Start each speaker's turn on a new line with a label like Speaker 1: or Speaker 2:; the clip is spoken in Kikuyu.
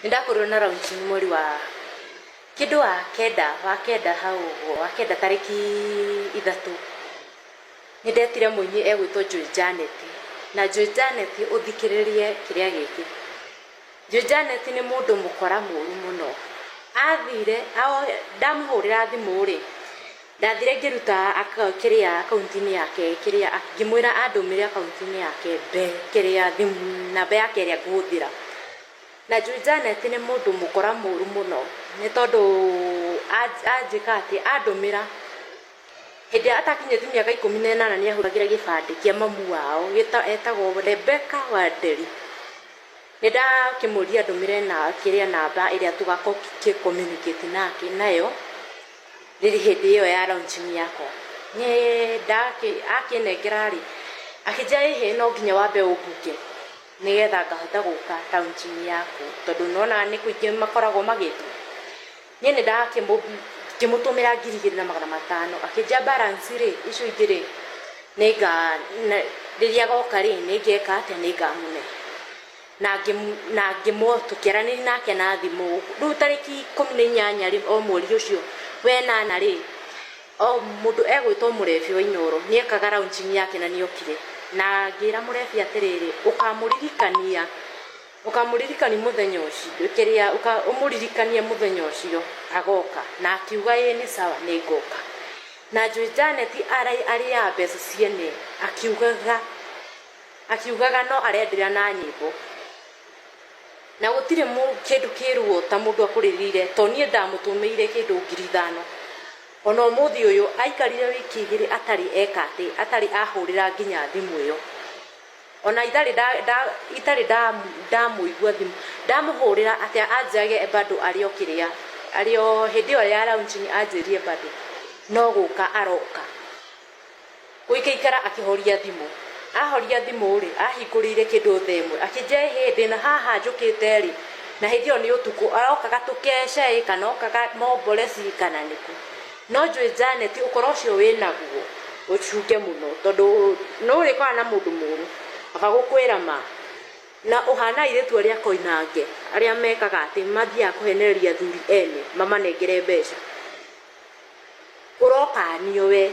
Speaker 1: Nĩndakorirwo na launching mweri wa, kĩndũ wa kenda, wa kenda hau ũguo, wa kenda tarĩki ithatũ. Nĩndetire mũini egwĩtwo Joy Janet. Na Joy Janet ũthikĩrĩrie kĩrĩa gĩkĩ. Joy Janet nĩ mũndũ mũkora mũru mũno. Athire, ndamũhũrĩra thimũ-rĩ. Ndathire ngĩruta aka, kĩrĩa, akaunti-inĩ yake, kĩrĩa, a, ngĩmwĩra andũmĩre akaunti-inĩ yake mbe, kĩrĩa, thimũ, namba yake ĩrĩa ngũhũthĩra. Na njũĩ Janet nĩ mũndũ mũkora mũũru mũno, nĩ tondũ anj, anjĩka atĩ, andũmĩra, hĩndĩ ĩrĩa atakinyĩtie mĩaka ikũmi na ĩnana nĩahũthagĩra gĩbandĩ kĩa mamu wao, gĩta, etagwo Rebecca Wanderi. Nĩndakĩmũria andũmĩre na kĩrĩa namba ĩrĩa tũgakorwo tũkĩ communicate nake nayo rĩrĩ hĩndĩ ĩyo ya launching yakwa nĩ ndakĩ akĩnengera rĩ akĩnjĩra ĩhĩ no nginya wambe ũmbuke nĩgetha ngahota gũka launching yaku tondũ nĩwonaga nĩ kũingĩ makoragwo magĩtwo Niĩ nĩ ndakĩmũtũmĩra ngiri igĩrĩ na magana matano, akĩnjĩra balance rĩ, icio ingĩ rĩ, rĩrĩa agoka rĩ, nĩ ngeka atĩa, nĩ ngamũhe. Na tũkĩaranĩria nake na thimũ. Rĩu tarĩki ikũmi na inyanya rĩ, o mweri ũcio wa ĩnana rĩ, o mũndũ egwĩtwo mũrebi wa Inooro nĩ ekaga launching yake na nĩ okire. Na ngĩra mũrebi atĩrĩrĩ, ũkamũririkania. Ũkamũririkani mũthenya ũcio, kĩrĩa, ũka, ũmũririkanie mũthenya ũcio agooka. Na akiuga, Ĩĩ, nĩ sawa, nĩ ngooka. Na njũĩ Janet arai, arĩaga mbeca ciene, akiugaga, akiugaga no arendera na nyĩmbo. Na gũtirĩ mũ, kĩndũ kĩĩruo ta mũndũ akũrĩrĩire, to niĩ ndamũtũmĩire kĩndũ ngiri ithano. O na ũmũthĩ ũyũ, aikarire wiki igĩrĩ atarĩ eka atĩ, atarĩ ahũũrĩra nginya thimũ ĩyo. ona itarĩ nda, nda, itarĩ nda, ndamũigua thimũ ndamũhũrĩra atĩa anjage bado arĩ o kĩrĩa arĩ o hĩndĩ ĩyo ya launching anjĩrie bado no gũka aroka gũikaikara akĩhoria thimũ ahoria thimũ rĩ ahingũrĩire kĩndũ thaa ĩmwe akĩnjĩra ĩ hĩndĩ na haha njũkĩte rĩ na hĩndĩ ĩyo nĩ ũtukũ arokaga tũkece ĩ kana okaga mombore ci kana nĩkũ No njũĩ Janet ũkora ũcio wĩnaguo ũcunge mũno tondũ nĩũrĩkora na mũndũ mũru akagũkwĩra ma na ũhana airĩtu arĩa akoinange arĩa mekaga atĩ mathiaga kũhenereria athuri ene mamanengere mbeca ũrokanio wee.